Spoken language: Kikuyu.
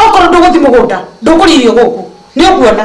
okorwo ndũgũthi mũgũnda ndũkũririo gũkũ nĩ ũkuona